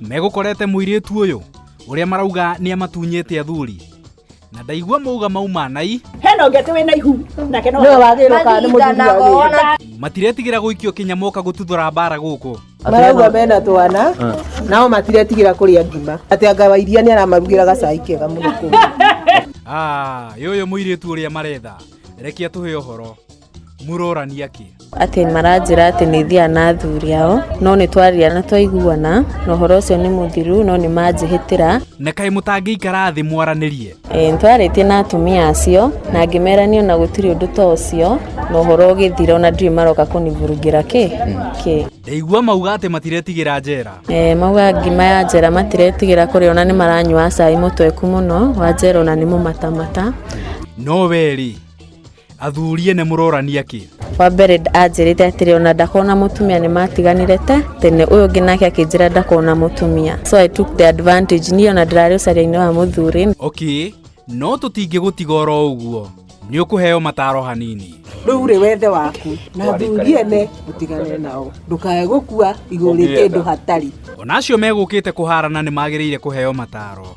megũkorete mũirĩtu ũyũ ũrĩa marauga nĩ amatunyĩte athuri na ndaigua mauga mauma nai hena ũngĩ atĩ wĩna ihu nake no Nĩwe wagĩrĩirwo kana nĩ mũthuri wagĩrĩirwo. matiretigĩra gũikio kinya moka gũtuthũra mbara gũkũ marauga mena twana nao matiretigĩra kũrĩa ngima atĩ anga wa iria nĩ aramarugĩra gacai kega mũno kũu Ah, yũyũ mũirĩtu ũrĩa maretha rekia tũhe ũhoro murorania kĩ atĩ maranjĩra atĩ nĩ thiaga na athuri ao no nĩ twaria na twaiguana na ũhoro ũcio nĩ mũthiru no nĩ manjĩhĩtĩra na kaĩ mũtangĩikara thĩ mwaranĩrie e, nĩ twarĩtie na atumia acio na ngĩmerania na gũtirĩ ũndũ ta ũcio na ũhoro ũgĩthira ona ndirĩ maroka kũnivurungĩra kĩ kĩ ndaigua mauga atĩ matiretigĩra njera e, mauga ngima ya njera matiretigĩra kũrĩa ona nĩ maranyua cai mũtweku mũno wa njera ona nĩ mũmatamata no we rĩ athuri ene mũrorania kĩ wa mbere anjĩrĩte atĩrĩ ona ndakona mũtumia nĩ matiganire te tene ũyũ ũngĩ nake akĩnjĩra ndakona mũtumia so i took the advantage niĩ ona ndĩrarĩ ũcaria-inĩ wa mũthuri okay no tũtingĩgũtiga oro ũguo nĩ ũkũheo mataro hanini rä u rä wethe waku na thuri ene å tigane nao ndåkae gå kua igå rä kä ndå hatari ona acio megũkĩte kũharana nĩ magĩrĩire kũheo mataro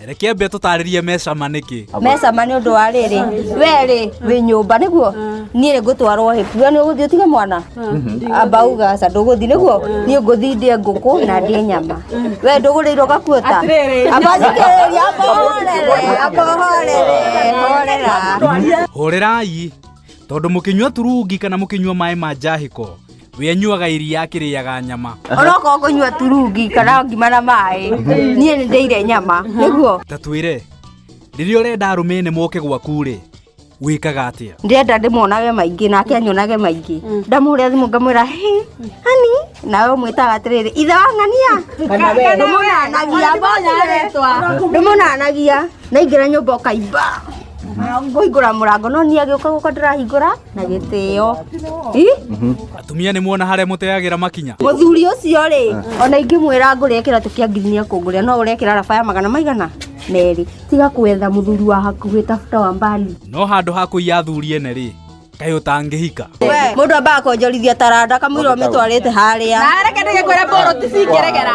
reke ambe tũtarĩrie mecama nĩkĩ mecama nĩ ũndũ wa rĩrĩ werĩ wĩ nyũmba nĩguo niĩ ngũtwarwo hĩ we nĩ ũgũthiĩ ũtige mwana amba uga aca ndũgũthiĩ nĩguo niĩ ngũthiĩ ndĩe ngũkũ na ndĩe nyama we ndũgũrĩirwo gakuota amba thikĩrĩria amba ũhorere amba ũhorere horera hũrĩrai tondũ mũkĩnyua turungi kana mũkĩnyua maĩ ma njahĩko we anyuaga iria akĩrĩaga nyama orokorwo kũnyua turungi kana ngima na maĩ niĩ nĩ ndĩire nyama nĩguo ta twĩre rĩrĩa ũrenda arũme nĩ moke gwaku-rĩ wĩkaga atĩa ndĩrenda ndĩmonage maingĩ nake anyonage maingĩ ndamũhũrĩra thimũ ngamwĩra "Hĩ, hani nawe ũmwĩtaga atĩrĩrĩ ithe wa ng'ania ndũmonanagia mbonaretwa ndũmonanagia naingĩra nyũmba ũkaimba ngũhingũra mũrango no niĩ agĩũka gũka ndĩrahingũra na gĩtĩo Ih, atumia nĩ muona harĩa mũteagĩra makinya mũthuri ũcio rĩ ona ingĩmwĩra ngũrĩa kĩratũ kĩa ngiri nĩ ekũngũrĩa no ũrekĩra raba ya magana maigana merĩ tiga kwetha mũthuri wa hakuhĩ tafuta wa mbali no handũ ha kũiya athuri ene rĩ kaĩ ũtangĩhika we mũndũ ambaga kwonjorithia taranda kamũira ũmĩtwarĩte harĩa nareke ndĩgĩkwĩra mbũrũ ti cingĩregera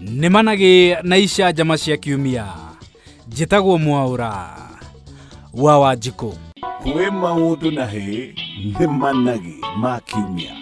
nĩ managĩ na icanjama cia kiumia njĩtagwo mwaũra wa wanjikũ kwĩ maũndũ na hĩ nĩ managĩ ma kiumia